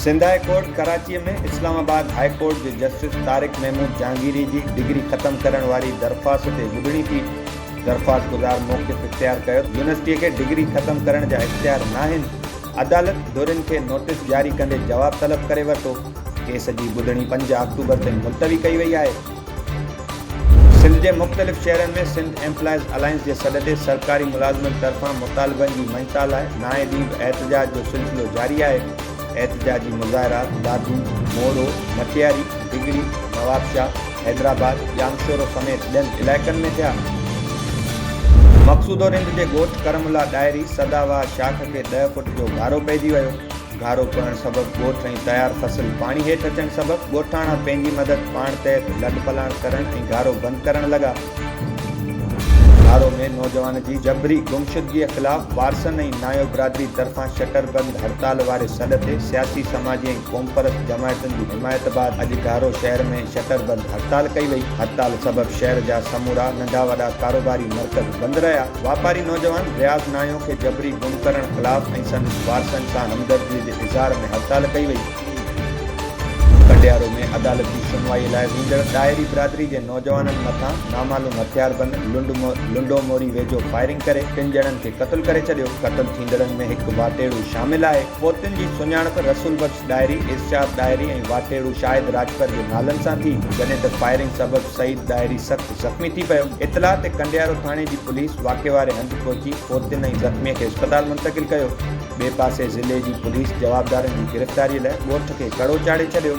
Sindh high court Karachi ۾ Islamabad high court جي justice Tariq Mahmood Jahangiri جي degree ختم ڪرڻ واري درخواست تي ٻڌڻي ٿي درخواست گذار موقف اختيار ڪيو ته يونيورسٽي کي ڊگري ختم ڪرڻ جا اختيار ناهن، عدالت ڌرين کي نوٽيس جاري ڪندي جواب طلب ڪري ورتو، ڪيس جي ٻڌڻي پنج آڪٽوبر تائين ملتوي ڪئي وئي آهي. سنڌ جي مختلف شهرن ۾ سنڌ ايمپلائيز الائنس جي سڏ تي سرڪاري ملازمن طرفان مطالبن جي مڃتا لاء نائين ڏينهن به احتجاج جو سلسلو جاري آهي، احتجاجي مظاهرا دادو، مورو، مٽياري، ڊگهڙي، نوابشاهه، حيدرآباد، ڄامشورو سميت ٻين علائقن ۾ ٿيا. مقصوده رند جي ڳوٺ ڪرم الله ڏاهري سدا بهار شاخ کي ڏهه فوٽ جو گهارو پئجي ويو. گهارو پوڻ سبب ڳوٺ ۽ تيار فصل پاڻي هيٺ اچڻ سبب ڳوٺاڻا پنهنجي مدد پاڻ تحت لڏ پلاڻ ڪرڻ ۽ گهارو بند ڪرڻ لڳا. گهارو ۾ نوجوان جي جبري گمشدگيء خلاف وارثن ۽ نايو برادري طرفان شٽر بند هڙتال واري سڏ تي سياسي، سماجي ۽ قومپرست جماعتن جي حمايت بعد اڄ گارو شهر ۾ شٽر بند هڙتال ڪئي وئي، هڙتال سبب شهر جا سمورا ننڍا وڏا ڪاروباري مرڪز بند رهيا، واپاري نوجوان رياض ناهيو کي جبري گم ڪرڻ خلاف ۽ سندس وارثن سان همدردي جي اظهار ۾ هڙتال ڪئي وئي. ڪنڊيارو ۾ عدالتي سنوائي لاء ويندڙ ڏاهري برادري جي نوجوانن مٿان نامعلوم هٿياربند لنڊو موري ويجهو فائرنگ ڪري ٽن ڄڻن کي قتل ڪري ڇڏيو، قتل ٿيندڙن ۾ هڪ واٽيڙو شامل آهي. فوتين جي سڃاڻپ رسول بخش ڏاهري، ارشاد ڏاهري ۽ واٽهڙو شاهد راڄپر جي نالن سان ٿي، جڏهن ته فائرنگ سبب سعيد ڏاهري سخت زخمي ٿي پيو. اطلاع تي ڪنڊيارو ٿاڻي جي پوليس واقعي واري هنڌ پهچي فوتين ۽ زخمي کي اسپتال منتقل ڪيو. ٻئي پاسي ضلعي جي پوليس جوابدارن جي گرفتاري لاء ڳوٺ کي ڪڙو چاڙهي ڇڏيو.